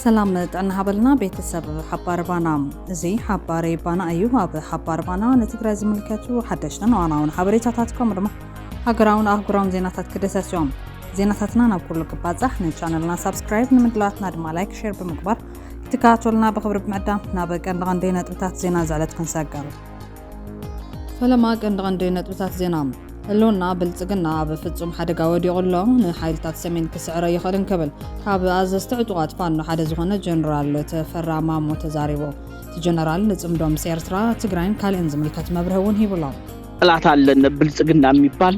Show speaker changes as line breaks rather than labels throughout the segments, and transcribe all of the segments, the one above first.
ሰላም ጥዕና ሃበልና ቤተሰብ ሓባር ባና እዚ ሓባሬ ባና እዩ ኣብ ሓባር ባና ንትግራይ ዝምልከቱ ሓደሽትን ዋናውን ሓበሬታታት ከምኡ ድማ ሃገራውን ኣህጉራውን ዜናታት ክደሰስ እዮም ዜናታትና ናብ ኩሉ ክባጻሕ ንቻነልና ሳብስክራይብ ንምድላትና ድማ ላይክ ሼር ብምግባር ትከታተሉና ብክብሪ ብምዕዳም ናብ ቀንዲ ቀንዲ ነጥብታት ዜና ዝዕለት ክንሰገር ፈለማ ቀንዲ ቀንዲ ነጥብታት ዜና ህልውና ብልጽግና ኣብ ፍጹም ሓደጋ ወዲቑ ኣሎ ንሓይልታት ሰሜን ክስዕረ ይኽእል እንክብል ካብ ኣዘዝቲ ዕጡቓት ፋኖ ሓደ ዝኾነ ጀነራል ተፈራ ማሞ ተዛሪቡ እቲ ጀነራል ንጽምዶ ምስ ኤርትራ ትግራይን ካልእን ዝምልከት መብርሂ እውን ሂቡሎ ጠላት ኣለነ
ብልጽግና የሚባል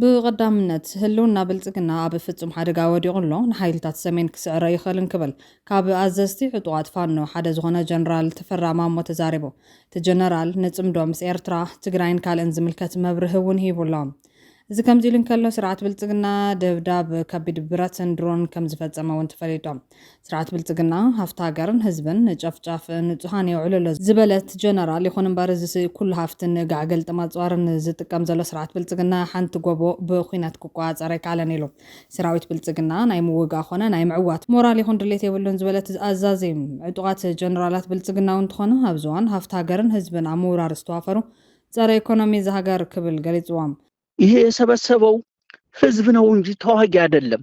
ብቐዳምነት፣ ህልውና ብልጽግና ኣብ ፍጹም ሓደጋ ወዲቑ ኣሎ፣ ንሓይልታት ሰሜን ክስዕረ ይኽእል እንክብል ካብ ኣዘዝቲ ዕጡቓት ፋኖ ሓደ ዝኾነ ጀነራል ተፈራ ማሞ ተዛሪቡ። እቲ ጀነራል ንጽምዶ ምስ ኤርትራ፣ ትግራይን ካልእን ዝምልከት መብርሂ እውን ሂቡ ኣሎ። እዚ ከምዚ ኢሉ እንከሎ፣ ስርዓት ብልጽግና ደብዳብ ከቢድ ብረትን ድሮንን ከምዝፈጸመ እውን ተፈሊጦም። ስርዓት ብልፅግና ሃፍቲ ሃገርን ህዝብን ንጨፍጫፍ ንፁሃን የውዕሎ ኣሎ ዝበለት ጀነራል፣ ይኹን እምበር እዚስ ኩሉ ሃፍቲ ንጋዕ ገልጥም ኣፅዋርን ዝጥቀም ዘሎ ስርዓት ብልፅግና ሓንቲ ጎቦ ብኹናት ክቆፃፀር ኣይከኣለን ኢሉ። ሰራዊት ብልፅግና ናይ ምውጋእ ኾነ ናይ ምዕዋት ሞራል ይኹን ድሌት የብሉን ዝበለት እዛ ኣዛዚ፣ ዕጡቓት ጀነራላት ብልፅግና እውን እንተኾኑ ኣብዚ እዋን ሃፍቲ ሃገርን ህዝብን ኣብ ምውራር ዝተዋፈሩ ፀረ ኢኮኖሚ እዛ ሃገር ክብል ገሊፅዎም። ይሄ
የሰበሰበው ህዝብ ነው እንጂ ተዋጊ አይደለም።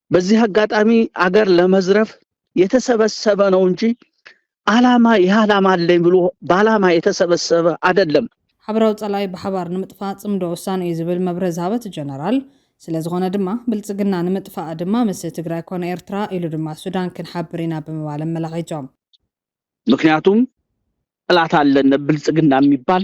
በዚህ አጋጣሚ አገር ለመዝረፍ የተሰበሰበ ነው እንጂ አላማ ይህ አላማ አለኝ ብሎ በአላማ የተሰበሰበ አይደለም። ሓበራዊ ጸላኢ
ብሓባር ንምጥፋእ ጽምዶ ወሳኒ እዩ ዝብል መብርሂ ዝሃበት ጀነራል፣ ስለ ዝኾነ ድማ ብልጽግና ንምጥፋእ ድማ ምስ ትግራይ ኮነ ኤርትራ ኢሉ ድማ ሱዳን ክንሓብር ኢና ብምባል ኣመላኺቶም።
ምክንያቱም ጠላት ኣለን ብልጽግና የሚባል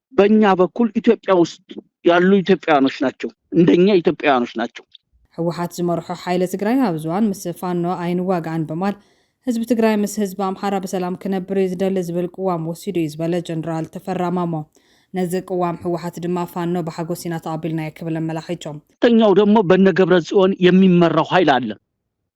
በኛ በኩል ኢትዮጵያ ውስጥ ያሉ ኢትዮጵያውያኖች ናቸው። እንደኛ ኢትዮጵያውያኖች ናቸው። ህወሓት ዝመርሖ
ሓይሊ ትግራይ ኣብ ዝዋን ምስ ፋኖ ኣይንዋጋእን በማል ህዝቢ ትግራይ ምስ ህዝቢ ኣምሓራ ብሰላም ክነብር እዩ ዝደሊ ዝብል ቅዋም ወሲዱ እዩ ዝበለ ጀነራል ተፈራ ማሞ ነዚ ቅዋም ህወሓት ድማ ፋኖ ብሓጎስ ኢና ተቐቢልናዮ ክብል ኣመላኺቶም። ተኛው ደግሞ በነ
ገብረ ጽዮን የሚመራው ኃይል አለ።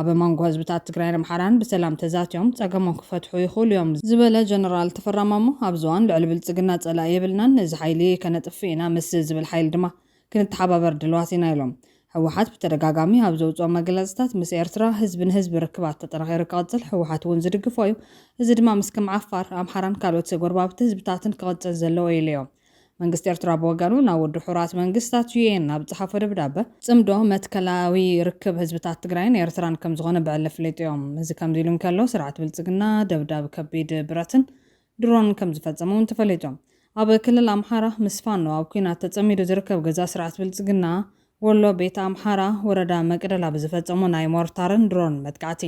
ኣብ መንጎ ህዝብታት
ትግራይን ኣምሓራን ብሰላም ተዛትዮም ፀገሞም ክፈትሑ ይኽእሉ ዮም ዝበለ ጀነራል ተፈራ ማሞ፣ ኣብዚ እዋን ልዕሊ ብልፅግና ፀላኢ የብልናን፣ እዚ ሓይሊ ከነጥፍእ ኢና፣ ምስ ዝብል ሓይሊ ድማ ክንተሓባበር ድልዋት ኢና ኢሎም። ህወሓት ብተደጋጋሚ ኣብ ዘውፅኦም መግለፅታት ምስ ኤርትራ ህዝቢ ንህዝቢ ርክባት ተጠናኺሩ ክቕፅል ህወሓት እውን ዝድግፎ ዩ፣ እዚ ድማ ምስ ከም ዓፋር፣ ኣምሓራን ካልኦት ጎረባብቲ ህዝብታትን ክቕፅል ዘለዎ ዩ ኢሎዮ። መንግስቲ ኤርትራ ብወገኑ ናብ ውድብ ሕቡራት መንግስታት፣ UN፣ ኣብ ዝጸሓፎ ደብዳበ፣ ጽምዶ መትከላዊ ርክብ ህዝብታት ትግራይን ኤርትራን ከምዝኾነ ብዕሊ ኣፍሊጡዮ። እዚ ከምዚ ኢሉ እንከሎ፣ ስርዓት ብልጽግና ደብዳብ ከቢድ ብረትን ድሮንን ከምዝፈጸመ'ውን ተፈሊጡ። ኣብ ክልል ኣምሓራ ምስ ፋኖ ኣብ ኲናት ተጸሚዱ ዝርከብ ገዛ ስርዓት ብልጽግና፣ ወሎ ቤት ኣምሓራ ወረዳ መቅደላ ብዝፈፀሞ ናይ ሞርታርን ድሮንን መጥቃዕቲ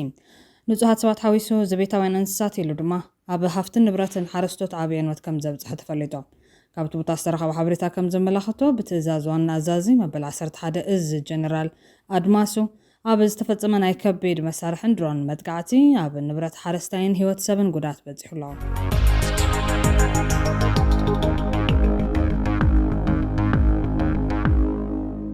ንፁሃት ሰባት ሓዊሱ ዘቤታውያን እንስሳት ኢሉ ድማ ኣብ ሃፍትን ንብረትን ሓረስቶት ዓብይ ዕንወት ከምዘብፅሐ ተፈሊጡ። ካብቲ ቦታ ዝተረኸበ ሓበሬታ ከምዘመላኽቶ ብትእዛዝ ዋና ኣዛዚ መበል ዓሰርተ ሓደ እዝ ጀነራል ኣድማሱ ኣብ ዝተፈጸመ ናይ ከቢድ መሳርሕን ድሮንን መጥቃዕቲ፣ ኣብ ንብረት ሓረስታይን ህይወት ሰብን ጉድኣት በጺሑ ኣሎ።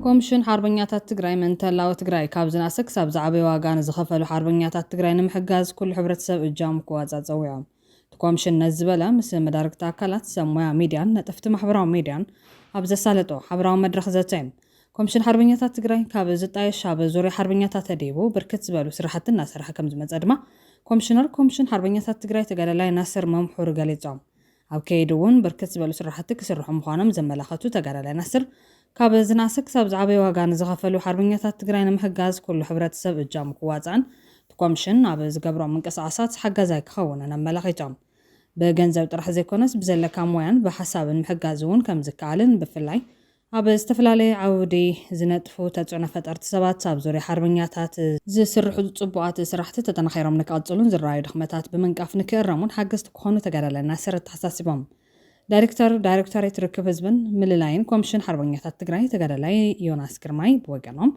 ኮምሽን ሓርበኛታት ትግራይ መንተላዊ ትግራይ ካብ ዝናእሰ ክሳብ ዝዓበየ ዋጋ ንዝኸፈሉ ሓርበኛታት ትግራይ ንምሕጋዝ ኩሉ ሕብረተሰብ እጃሙ ክዋፃእ ፀዊዖም። እቲ ኮምሽን ነዚ ዝበለ ምስ መዳርግቲ ኣካላት፣ ሰብ ሞያ ሚድያን ነጠፍቲ ማሕበራዊ ሚድያን ኣብ ዘሳለጦ ሓበራዊ መድረኽ ዘተ ዩ። ኮምሽን ሓርበኛታት ትግራይ ካብ ዝጣየሽ ኣብ ዙርያ ሓርበኛታት ተዲቡ ብርክት ዝበሉ ስራሕቲ እናሰርሐ ከምዝመፀ ድማ ኮምሽነር ኮምሽን ሓርበኛታት ትግራይ ተጋዳላይ ናስር መምሑር ገሊፆም። ኣብ ከይዲ ውን ብርክት ዝበሉ ስራሕቲ ክስርሑ ምዃኖም ዘመላኸቱ ተጋዳላይ ናስር ካብ ዝናኣሰ ክሳብ ዝዓበየ ዋጋ ንዝኸፈሉ ሓርበኛታት ትግራይ ንምሕጋዝ ኩሉ ሕብረተሰብ እጃሙ ክዋፃእን እቲ ኮምሽን ኣብ ዝገብሮም ምንቅስቓሳት ሓጋዛይ ክኸውንን ኣመላኺቶም። ብገንዘብ ጥራሕ ዘይኮነስ ብዘለካ ሞያን ብሓሳብን ምሕጋዝ እውን ከምዝከኣልን ብፍላይ ኣብ ዝተፈላለየ ዓውዲ ዝነጥፉ ተፅዕኖ ፈጠርቲ ሰባት ኣብ ዙርያ ሓርበኛታት ዝስርሑ ፅቡቓት ስራሕቲ ተጠናኺሮም ንክቕፅሉን ዝረኣዩ ድኽመታት ብምንቃፍ ንክእረሙን ሓገዝቲ ክኾኑ ተጋዳላይ ናስር ኣተሓሳሲቦም። ዳይሬክተር ዳይሬክቶሬት ርክብ ህዝብን ምልላይን ኮምሽን ሓርበኛታት ትግራይ ተጋዳላይ ዮናስ ግርማይ ብወገኖም፣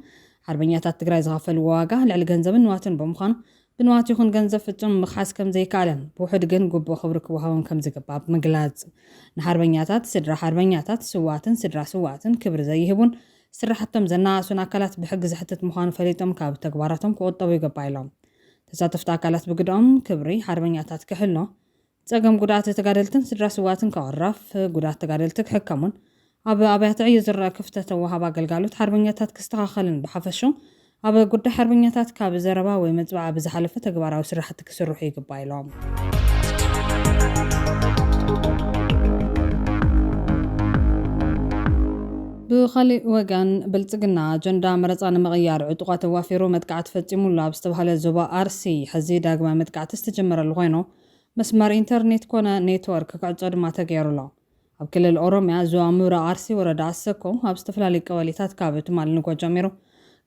ሓርበኛታት ትግራይ ዝኸፈልዎ ዋጋ ልዕሊ ገንዘብን ንዋትን ብምዃኑ ብንዋት ይኹን ገንዘብ ፍፁም ምኽሓስ ከምዘይከኣልን ብውሑድ ግን ግቡእ ክብሪ ክወሃቦም ከምዝግባእ ብምግላፅ ንሓርበኛታት፣ ስድራ ሓርበኛታት፣ ስውኣትን ስድራ ስውኣትን ክብሪ ዘይህቡን ስራሕቶም ዘናኣእሱን ኣካላት ብሕጊ ዘሕትት ምዃኑ ፈሊጦም ካብ ተግባራቶም ክቑጠቡ ይግባእ ኢሎም። ተሳተፍቲ ኣካላት ብግደኦም፣ ክብሪ ሓርበኛታት ክሕሎ፣ ፀገም ጉድኣት ተጋደልትን ስድራ ስውኣትን ክቕረፍ፣ ጉድኣት ተጋደልቲ ክሕከሙን ኣብ ኣብያተ ዕዮ ዝረኣ ክፍተት ወሃብ ኣገልጋሎት ሓርበኛታት ክስተኻኸልን ብሓፈሽኡ ኣብ ጉዳይ ሓርበኛታት ካብ ዘረባ ወይ መፅብዓ ብዝሓለፈ ተግባራዊ ስራሕቲ ክስርሑ ይግባእ ኢሎም። ብኻሊእ ወገን ብልፅግና ኣጀንዳ መረፃ ንምቕያር ዕጡቓት ኣዋፊሩ መጥቃዕቲ ፈፂሙ ኣሎ ኣብ ዝተብሃለ ዞባ ኣርሲ ሕዚ ዳግማይ መጥቃዕቲ ዝተጀመረሉ ኾይኑ፣ መስመር ኢንተርኔት ኮነ ኔትወርክ ክዕጾ ድማ ተገይሩ ኣሎ። ኣብ ክልል ኦሮሚያ ዞባ ምብራቕ ኣርሲ ወረዳ ኣሰኮ ኣብ ዝተፈላለዩ ቀበሌታት ካብ ትማሊ ንግሆ ጀሚሩ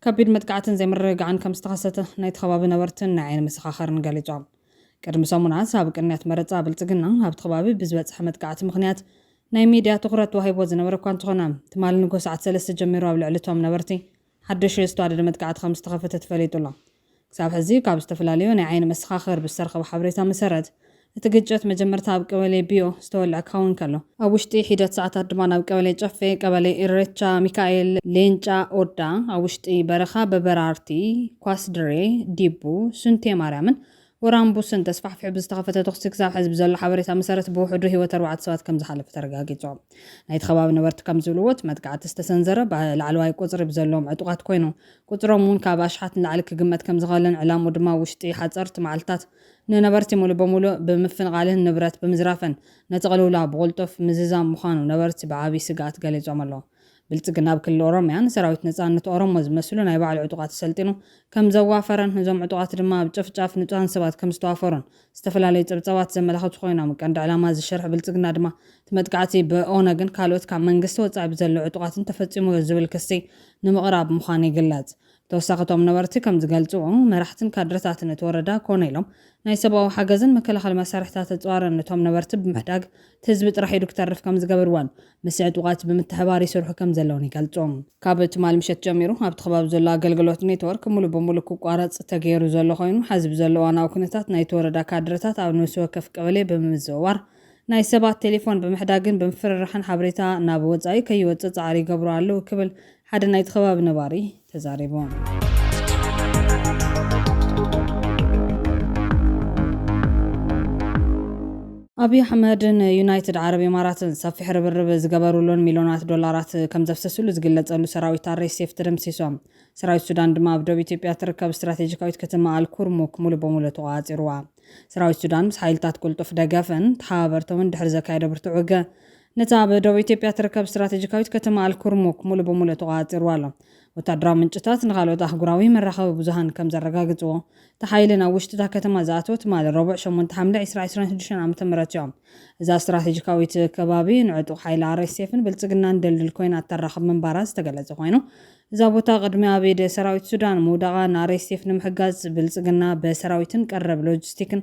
ከቢድ መጥቃዕትን ዘይምርግጋዕን ከምዝተኸሰተ ናይቲ ከባቢ ነበርትን ናይ ዓይኒ መሰኻኸርን ገሊጾም። ቅድሚ ሰሙናት ኣብ ቅንያት መረጻ ብልጽግና ኣብቲ ከባቢ ብዝበጽሐ መጥቃዕቲ ምኽንያት ናይ ሚድያ ትኹረት ተዋሂብዎ ዝነበረ እኳ እንተኾነ ትማሊ ንግሆ ሰዓት ሰለስተ ጀሚሩ ኣብ ልዕሊ እቶም ነበርቲ ሓደሽቲ ዝተዋደደ መጥቃዕቲ ከም ዝተኸፈተ ተፈሊጡ ኣሎ። ክሳብ ሕዚ ካብ ዝተፈላለዩ ናይ ዓይኒ መሰኻኽር ብዝተረኸበ ሓበሬታ መሰረት፣ እቲ ግጭት መጀመርታ ኣብ ቀበሌ ቢዮ ዝተወልዐ ክኸውን ከሎ፣ ኣብ ውሽጢ ሒደት ሰዓታት ድማ ናብ ቀበሌ ጨፌ፣ ቀበሌ ኢሬቻ ሚካኤል፣ ሌንጫ ኦዳ፣ ኣብ ውሽጢ በረኻ በበራርቲ፣ ኳስድሬ፣ ዲቡ፣ ሱንቴ ማርያምን ወራም ቡስን ተስፋሕፊሑ ብዝተኸፈተ ተኹሲ ክሳብ ሕዚ ብዘሎ ሓበሬታ መሰረት ብውሕዱ ህይወት ኣርባዕተ ሰባት ከምዝሓለፈ ተረጋጊጹ። ናይቲ ከባቢ ነበርቲ ከምዝብልዎ እቲ መጥቃዕቲ ዝተሰንዘረ ብ ላዕለዋይ ቁጽሪ ብዘለዎም ዕጡቓት ኮይኑ ቁጽሮም እውን ካብ ኣሽሓት ንላዕሊ ክግመት ከምዝኸእልን ዕላምኡ ድማ ውሽጢ ሓጸርቲ መዓልትታት ንነበርቲ ሙሉእ ብሙሉእ ብምፍንቓልን ንብረት ብምዝራፍን ነቲ ቅልውላው ብቕልጡፍ ምዝዛም ምዃኑ ነበርቲ ብዓብይ ስግኣት ገሊጾም ኣለው። ብልፅግና ኣብ ክልል ኦሮሚያ ንሰራዊት ነፃነት ኦሮሞ ዝመስሉ ናይ ባዕሉ ዕጡቓት ኣሰልጢኑ ከምዘዋፈረን እዞም ዕጡቓት ድማ ኣብ ጨፍጫፍ ንፁሃን ሰባት ከምዝተዋፈሩን ዝተፈላለዩ ፀብፃባት ዘመላኽቱ ኮይኖም ቀንዲ ዕላማ እዚ ሽርሒ ብልፅግና ድማ እቲ መጥቃዕቲ ብኦነግን ካልኦት ካብ መንግስቲ ወፃኢ ብዘለዉ ዕጡቓትን ተፈፂሙ'ዩ ዝብል ክሲ ንምቕራብ ምዃኑ ይግለፅ። ብተወሳኺ እቶም ነበርቲ ከም ዝገልፅዎ፣ መራሕትን ካድረታትን እቲ ወረዳ ኮነ ኢሎም ናይ ሰብኣዊ ሓገዝን መከላኸሊ መሳርሕታት እፅዋርን ንቶም ነበርቲ ብምሕዳግ እቲ ህዝቢ ጥራሕ ኢዱ ክተርፍ ከም ዝገብርዎን ምስ ዕጡቓት ብምትሕብባር ይስርሑ ከም ዘለዉን ይገልፁ። ካብ ትማሊ ምሸት ጀሚሩ ኣብቲ ከባቢ ዘሎ ኣገልግሎት ኔትወርክ ሙሉእ ብሙሉእ ክቋረፅ ተገይሩ ዘሎ ኮይኑ ሐዚ ብዘሎ እዋናዊ ኩነታት ናይቲ ወረዳ ካድረታት ኣብ ነብሲ ወከፍ ቀበሌ ብምምዝውዋር ናይ ሰባት ቴሌፎን ብምሕዳግን ብምፍርራሕን ሓበሬታ ናብ ወፃኢ ከይወፅእ ፃዕሪ ይገብሩ ኣለዉ ክብል ሓደ ናይቲ ከባቢ ነባሪ ተዛሪቡ። ኣብዪ ኣሕመድ ንዩናይትድ ዓረብ ኢማራትን ሰፊሕ ርብርብ ዝገበሩሉን ሚልዮናት ዶላራት ከም ዘፍሰሱሉ ዝግለጸሉ ሰራዊት ኣርኤስኤፍ ተደምሲሶም። ሰራዊት ሱዳን ድማ ኣብ ዶብ ኢትዮጵያ እትርከብ ስትራቴጂካዊት ከተማ ኣልኩርሙክ ሙሉእ ብሙሉእ ተቖጻጺሩዋ። ሰራዊት ሱዳን ምስ ሓይልታት ቅልጡፍ ደገፍን ተሓባበርቶምን ድሕሪ ዘካየዶ ብርቱዕ ውግእ ነታ ኣብ ደቡብ ኢትዮጵያ እትርከብ ስትራተጂካዊት ከተማ ኣልኩርሙክ ምሉእ ብምሉእ ተቖጻጺርዋ ኣሎ። ወተሃደራዊ ምንጭታት ንኻልኦት ኣህጉራዊ መራኸቢ ብዙሃን ከም ዘረጋግጽዎ፣ እቲ ሓይሊ ናብ ውሽጢ እታ ከተማ ዝኣተወ ትማሊ ረቡዕ ሸሞንተ ሓምለ ዕስራ ዕስራን ሽዱሽተን ዓመተ ምህረት'ዩ። እዛ ስትራተጂካዊት ከባቢ ንዕጡቕ ሓይሊ ኣርኤስኤፍን ብልጽግናን ድልድል ኮይና እተራኽብ ምንባራ ዝተገለጸ ኮይኑ፣ እዛ ቦታ ቅድሚ ኣብ ኢድ ሰራዊት ሱዳን ምውዳቓ ንኣርኤስኤፍ ንምሕጋዝ ብልጽግና ብሰራዊትን ቀረብ ሎጂስቲክን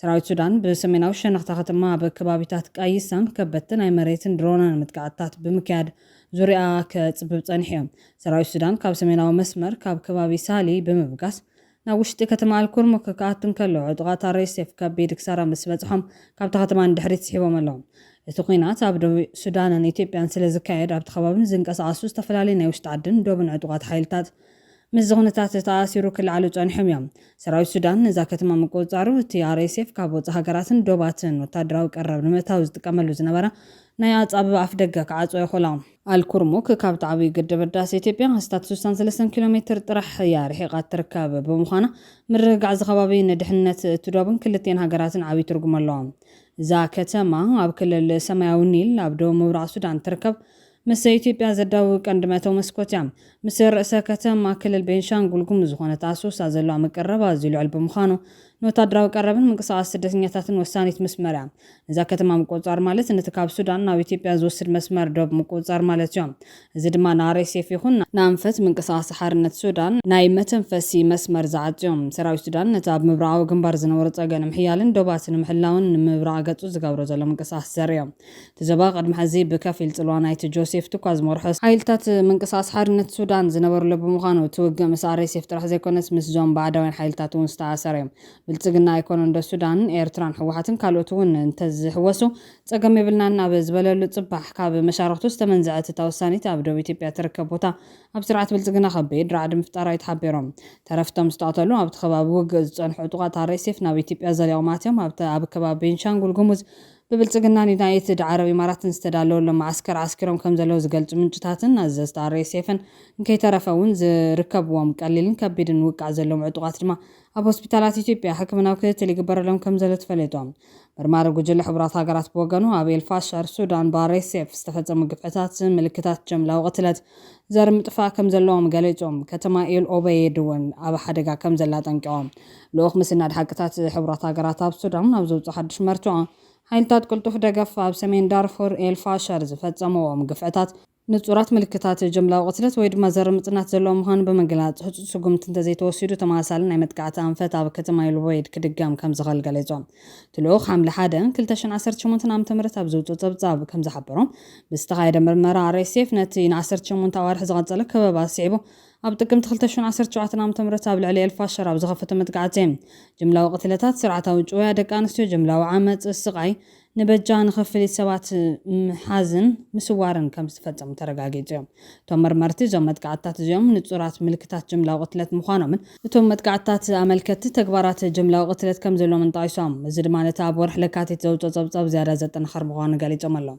ሰራዊት ሱዳን ብሰሜናዊ ሸነኽ'ታ ከተማ ኣብ ከባቢታት ቃይሳን ከበድቲ ናይ መሬትን ድሮናን መጥቃዕትታት ብምክያድ ዙርያኣ ከጽብብ ጸኒሑ'ዩ። ሰራዊት ሱዳን ካብ ሰሜናዊ መስመር ካብ ከባቢ ሳሊ ብምብጋስ ናብ ውሽጢ ከተማ ኣልኩርሙክ ክኣቱ እንከሎ ዕጡቓት ኣርኤስኤፍ ከቢድ ክሳራ ምስ በጽሖም ካብታ ከተማ ንድሕሪት ስሒቦም ኣለዉ። እቲ ኲናት ኣብ ዶብ ሱዳንን ኢትዮጵያን ስለዝካየድ ኣብቲ ከባቢ ዝንቀሳቐሱ ዝተፈላለዩ ናይ ውሽጢ ዓድን ዶብን ዕጡቓት ሓይልታት ምስዚ ኩነታት ተኣኣሲሩ ክለዓሉ ጸኒሖም እዮም። ሰራዊት ሱዳን ነዛ ከተማ ምቁጽጻሩ፣ እቲ RSF ካብ ወጻኢ ሃገራትን ዶባትን ወተሃደራዊ ቀረብ ንምእታው ዝጥቀመሉ ዝነበረ ናይ ኣጻብባ ኣፍደገ ክዓጽዎ የኽእሎ። ኣል-ኩርሙክ ካብቲ ዓብዩ ግድብ ህዳሰ ኢትዮጵያ ኣስታት ስሳን ሰለስተን ኪሎ ሜትር ጥራሕ እያ ርሒቓ እትርከብ ብምዃና፣ ምርግጋዕ እዚ ከባቢ ንድሕንነት እቲ ዶብን ክልቲኤን ሃገራትን ዓብዪ ትርጉም ኣለዎ። እዛ ከተማ ኣብ ክልል ሰማያዊ ኒል ኣብ ደቡብ ምብራቕ ሱዳን እትርከብ ምስ ኢትዮጵያ ዘዳውብ ቀንዲ መእተዊ መስኮት እያ። ምስ ርእሰ ከተማ ክልል ቤንሻንጉል ጉሙዝ ዝኾነት ኣሶሳ ዘለዋ ምቅርራብ ኣዝዩ ልዑል ብምዃኑ፣ ንወታደራዊ ቀረብን ምንቅስቓስ ስደተኛታትን ወሳኒት መስመር እያ። ነዛ ከተማ ምቁጽጻር ማለት ነቲ ካብ ሱዳን ናብ ኢትዮጵያ ዝወስድ መስመር ዶብ ምቁጽጻር ማለት እዩ። እዚ ድማ ንኣርኤስኤፍ ይኹን ንኣንፈት ምንቅስቓስ ሓርነት ሱዳን ናይ መተንፈሲ መስመር ዝዓጹ እዩ። ሰራዊት ሱዳን ነቲ ኣብ ምብራቓዊ ግንባር ዝነበሮ ጸገ ንምሕያልን ዶባት ንምሕላውን ንምብራቕ ገጹ ዝገብሮ ዘሎ ምንቅስቓስ ዘርኢ እዩ። እቲ ዘባ ቅድሚ ሕዚ ብከፊል ጽልዋ ናይቲ ጆሴፍ ቱካ ዝመርሖ ሓይልታት ምንቅስቓስ ሓርነት ሱዳን ዝነበርሉ ብምዃኑ፣ እቲ ውግእ ምስ RSF ጥራሕ ዘይኮነስ ምስዞም ባዕዳውያን ሓይልታት'ውን ዝተኣሳሰረ እዩ። ብልጽግና ኣይኮነንዶ ሱዳን፣ ኤርትራን ህወሓትን ካልኦት'ውን እንተዝሕወሱ ጸገም የብልናን ኣብ ዝበለሉ ጽባሕ፣ ካብ መሻርኽቱ ዝተመንዘዐት እታ ወሳኒት ኣብ ዶብ ኢትዮጵያ እትርከብ ቦታ ኣብ ስርዓት ብልጽግና ከቢድ ራዕዲ ምፍጣራ'ዩ ተሓቢሩ። ተረፍቶም ዝተቐተሉ ኣብቲ ከባቢ ውግእ ዝጸንሑ ዕጡቓት RSF ናብ ኢትዮጵያ ዘሊቖም ኣትዮም ኣብቲ ኣብ ከባቢ ቤንሻንጉል ጉሙዝ ብብልጽግና ንዩናይትድ ዓረብ ኢማራትን ዝተዳለወሎም መዓስከር ዓስኪሮም ከምዘለዉ ዝገልጹ ምንጭታትን ኣዘዝቲ RSFን እንከይተረፈ እውን ዝርከብዎም ቀሊልን ከቢድን ውቃዕ ዘለዎም ዕጡቓት ድማ ኣብ ሆስፒታላት ኢትዮጵያ ሕክምናዊ ክትትል ይግበረሎም ከምዘሎ ተፈሊጦም። መርማሪ ጉጅለ ሕቡራት ሃገራት ብወገኑ ኣብ ኤልፋሸር፣ ሱዳን ብRSF ዝተፈጸሙ ግፍዕታት ምልክታት ጀምላዊ ቅትለት ዘርኢ ምጥፋእ ከምዘለዎም ገሊጹ። ከተማ ኤል ኦበይድ እውን ኣብ ሓደጋ ከምዘላ ኣጠንቂቖም። ልኡኽ ምስናድ ሓቅታት ሕቡራት ሃገራት ኣብ ሱዳን ኣብ ዘውጽኦ ሓድሽ መርትዖ፣ ሓይልታት ቅልጡፍ ደገፍ ኣብ ሰሜን ዳርፉር ኤል ፋሸር ዝፈጸምዎም ግፍዕታት፣ ንጹራት ምልክታት ጅምላዊ ቅትለት ወይ ድማ ዘርኢ ምጽናት ዘለዎም ምዃኑ ብምግላጽ፣ ህጹጽ ስጉምቲ እንተዘይተወሲዱ ተመሳሳሊ ናይ መጥቃዕቲ ኣንፈት ኣብ ከተማ ኤል ኡበይድ ክድገም ከምዝኽእል ገሊጹ። እቲ ልኡኽ ሓምለ ሓደ፣ ክልተ ሽሕን ዓሰርተ ሸሞንተን ዓመተ ምህረት ኣብ ዘውጽኦ ጸብጻብ ከምዝሓበሮ፣ ብዝተኻየደ ምርመራ RSF ነቲ ንዓሰርተ ሸሞንተ ኣዋርሕ ዝቐጸለ ከበባ ስዒቡ ኣብ ጥቅምቲ ክልተ ሽሕን ዓሰርተ ሸውዓተን ዓመተ ምህረት ኣብ ልዕሊ ኤልፋሸር ኣብ ዝኸፈቶ መጥቃዕቲ፣ ጅምላዊ ቅትለታት፣ ስርዓታዊ ጭውያ ደቂ ኣንስትዮ፣ ጅምላዊ ዓመጽ፣ ስቓይ፣ ንበጃ ንኽፍሊት ሰባት ምሓዝን ምስዋርን ከም ዝተፈጸሙ ተረጋጊጹ እዩ። እቶም መርመርቲ እዞም መጥቃዕትታት እዚኦም ንጹራት ምልክታት ጅምላዊ ቅትለት ምዃኖምን፣ እቶም መጥቃዕትታት ኣመልከትቲ ተግባራት ጅምላዊ ቅትለት ከም ዘለዎምን ጠቒሶም፣ እዚ ድማ ነቲ ኣብ ወርሒ ለካቲት ዘውጽኦ ጸብጻብ ዝያዳ ዘጠናኽር ምዃኑ ገሊጾም ኣለዉ።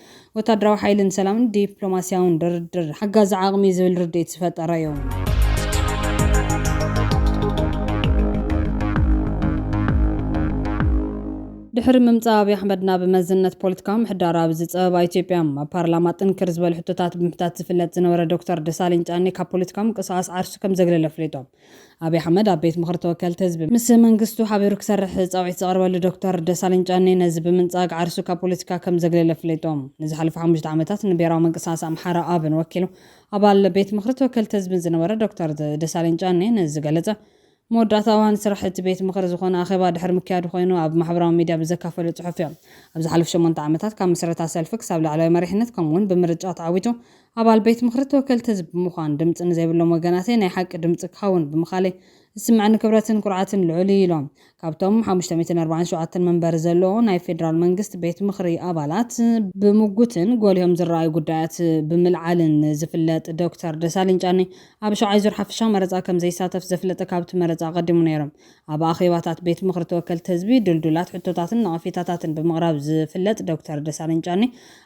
ወታደራዊ ሓይሊ ንሰላምን ዲፕሎማሲያውን ድርድር ሓጋዚ ዓቕሚ'ዩ ዝብል ርድኢት ዝፈጠረ'ዩ። ድሕሪ ምምጻእ ኣብይ ኣሕመድ ናብ መዝነት ፖለቲካዊ ምሕዳር ኣብ ዝጸበባ ኢትዮጵያ፣ ኣብ ፓርላማ ጥንክር ዝበሉ ሕቶታት ብምሕታት ዝፍለጥ ዝነበረ ዶክተር ደሳለኝ ጫኔ ካብ ፖለቲካዊ ምንቅስቓስ ዓርሱ ከምዘግለለ ኣፍሊጦም። ኣብይ ኣሕመድ ኣብ ቤት ምኽሪ ተወከልቲ ህዝቢ ምስ መንግስቱ ሓቢሩ ክሰርሕ ፃውዒት ዘቕረበሉ ዶክተር ደሳለኝ ጫኔ ነዚ ብምንፃግ ዓርሱ ካብ ፖለቲካ ከም ዘግለለ ኣፍሊጡ። ንዝሓለፉ ሓሙሽተ ዓመታት ንብሄራዊ ምንቅስቓስ ኣምሓራ፣ ኣብን፣ ወኪሉ ኣባል ቤት ምኽሪ ተወከልቲ ህዝብን ዝነበረ ዶክተር ደሳለኝ ጫኔ ነዚ ዝገለፀ መወዳእታ እዋን ስራሕ እቲ ቤት ምኽሪ ዝኾነ ኣኼባ ድሕሪ ምክያዱ ኮይኑ ኣብ ማሕበራዊ ሚድያ ብዘካፈሎ ፅሑፍ እዩ። ኣብ ዝሓለፉ ሸሞንተ ዓመታት ካብ ምስረታ ሰልፊ ክሳብ ላዕለዋይ መሪሕነት ከምኡ እውን ብምርጫ ተዓዊቱ ኣባል ቤት ምኽሪ ተወከልቲ ህዝቢ ብምዃን ድምፂ ንዘይብሎም ወገናተይ ናይ ሓቂ ድምፂ ክኸውን ብምኽኣለይ ዝስመዐኒ ክብረትን ኩርዓትን ልዑል እዩ ኢሎም። ካብቶም ሓሙሽተ ሚእትን ኣርባዓን ሸውዓተን መንበሪ ዘለዎ ናይ ፌዴራል መንግስት ቤት ምኽሪ ኣባላት፣ ብምጉትን ጎሊሆም ዝረኣዩ ጉዳያት ብምልዓልን ዝፍለጥ ዶክተር ደሳለኝ ጫኔ ኣብ ሸውዓይ ዙር ሓፈሻዊ መረፃ ከምዘይሳተፍ ዘፍለጠ ካብቲ መረፃ ኣቐዲሙ ነይሩ ኣብ ኣኼባታት ቤት ምኽሪ ተወከልቲ ህዝቢ ድልዱላት ሕቶታትን ነቐፌታታትን ብምቕራብ ዝፍለጥ ዶክተር ደሳለኝ ጫኔ፣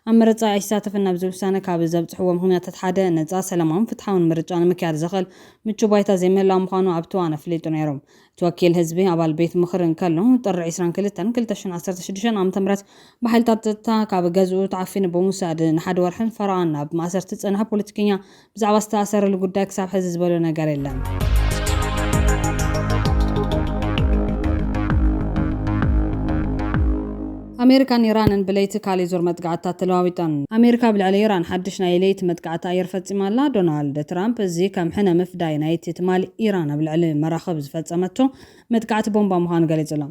ኣብ ምርጫ ኣይሳተፍን ናብዚ ውሳነ ካብ ዘብጽሕዎ ምኽንያታት ሓደ፣ ነጻ፣ ሰላማውን ፍትሓውን ምርጫ ንምክያድ ዘኽእል ምቹእ ባይታ ዘይምህላው ምዃኑ ኣብቲ እዋን ኣፍሊጡ ነይሩ። እቲ ወኪል ህዝቢ ኣባል ቤት ምኽሪ እንከሎ፣ ጥሪ ዕስራን ክልተን ክልተ ሽሕን ዓሰርተ ሽዱሽተ ዓ.ም ብሓይልታት ጸጥታ ካብ ገዝኡ ተዓፊኑ ብምውሳድ ንሓደ ወርሕን ፈረቓን ኣብ ማእሰርቲ ዝጸንሐ ፖለቲከኛ ብዛዕባ ዝተኣሰረሉ ጉዳይ ክሳብ ሕዚ ዝበሎ ነገር የለን። ኣሜሪካን ኢራንን ብለይቲ ካልእ ዙር መጥቃዕትታት ተለዋዊጠን። ኣሜሪካ ኣብ ልዕሊ ኢራን ሓድሽ ናይ ለይቲ መጥቃዕቲ ኣየር ፈጺማ ኣላ። ዶናልድ ትራምፕ እዚ ከም ሕነ ምፍዳይ ናይቲ ትማሊ ኢራን ኣብ ልዕሊ መራኽብ ዝፈጸመቶ መጥቃዕቲ ቦምባ ምዃኑ ገሊጹ'ሎ።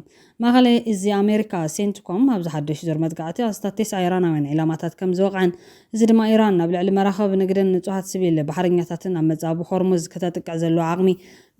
ማእኸላይ እዚ ኣሜሪካ፣ ሴንትኮም፣ ኣብዚ ሓዱሽ ዙር መጥቃዕቲ ኣስታት ቴስዓ ኢራናውያን ዒላማታት ከምዝወቕዐን፣ እዚ ድማ ኢራን ናብ ልዕሊ መራኽብ ንግድን ንፁሃት ሲቪል ባሕረኛታትን ኣብ መፃብብ ሆርሙዝ ክተጥቅዕ ዘለዋ ዓቕሚ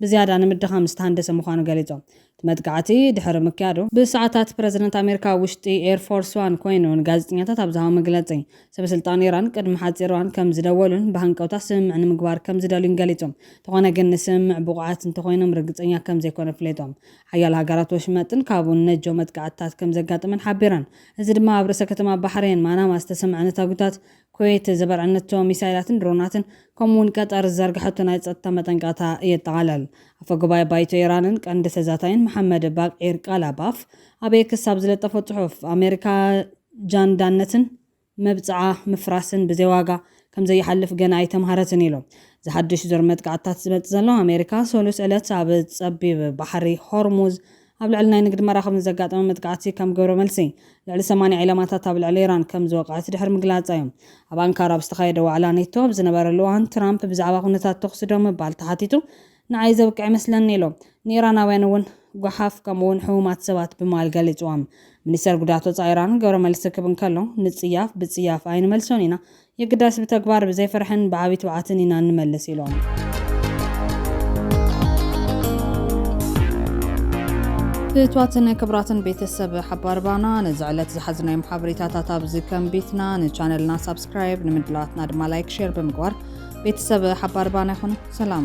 ብዝያዳ ንምድኻም ዝተሃንደሰ ምዃኑ ገሊፆም። እቲ መጥቃዕቲ ድሕሪ ምክያዱ፣ ብሰዓታት ፕረዚደንት ኣሜሪካ ኣብ ውሽጢ ኤር ፎርስ ዋን ኮይኑ ንጋዜጠኛታት ኣብ ዝሃቦ መግለፂ፣ ሰበስልጣን ኢራን ቅድሚ ሓፂር እዋን ከምዝደወሉን ብሃንቀውታ ስምምዕ ንምግባር ከምዝደልዩን ገሊፆም። እንተኾነ ግን ንስምምዕ ብቑዓት እንተኾይኖም ርግፀኛ ከምዘይኮኑ ኣፍሊጦም። ሓያሎ ሃገራት ወሽመጥን ካብኡን ነጀው መጥቃዕትታት ከም ዘጋጠመን ሓቢረን። እዚ ድማ ኣብ ርእሰ ከተማ ባሕሬን ማናማ ዝተሰምዐ ነታጒታት፣ ኩዌት ዘበርዐነቶ ሚሳይላትን ድሮናትን፣ ከምኡ'ውን ቀጠር ዝዘርግሐቶ ናይ ጸጥታ መጠንቀቕታ የጠቓልል። ኣፈ ጉባኤ ባይቶ ኢራንን ቀንዲ ተዛታይን መሓመድ ባቅዒር ቃላባፍ ኣብ ኤክስ ኣብ ዝለጠፎ ጽሑፍ፣ ኣመሪካ ጃንዳነትን፣ መብጽዓ ምፍራስን ብዘይ ዋጋ ከም ዘይሓልፍ ገና ኣይተምሃረትን ኢሉ። እዚ ሓድሽ ዙር መጥቃዕትታት ዝመጽእ ዘሎ፣ ኣሜሪካ ሰሉስ ዕለት ኣብ ጸቢብ ባሕሪ ሆርሙዝ ኣብ ልዕሊ ናይ ንግዲ መራኽብ ንዘጋጠመ መጥቃዕቲ ከም ግብረ መልሲ ልዕሊ ሰማንያ ዒላማታት ኣብ ልዕሊ ኢራን ከም ዝወቅዐት ድሕሪ ምግላጻ'ዩ። ኣብ ኣንካራ ኣብ ዝተኻየደ ዋዕላ ኔቶ ኣብ ዝነበረሉ እዋን ትራምፕ ብዛዕባ ኩነታት ተኹሲ ደው ምባል ተሓቲቱ ንዓይ ዘብቅዕ እመስለኒ ኢሉ። ንኢራናውያን እውን ጓሓፍ ከምኡ እውን ሕሙማት ሰባት ብምባል ገሊጽዎም። ሚኒስተር ጉዳያት ወጻኢ ኢራን ግብረ መልሲ ክብ እንከሎ፣ ንጽያፍ ብጽያፍ ኣይንመልሶን ኢና፣ የግዳስ ብተግባር፣ ብዘይ ፍርሕን ብዓቢ ትብዓትን ኢና እንመልስ ኢሉ። ፍትዋትን ክብራትን ቤተሰብ ሓባር ባና ነዚ ዕለት ዝሓዝናዮም ሓበሬታታት ኣብዚ ከንቢትና ንቻነልና ሳብስክራይብ ንምድላዋትና ድማ ላይክ ሼር ብምግባር ቤተሰብ ሓባር ባና ይኹኑ። ሰላም።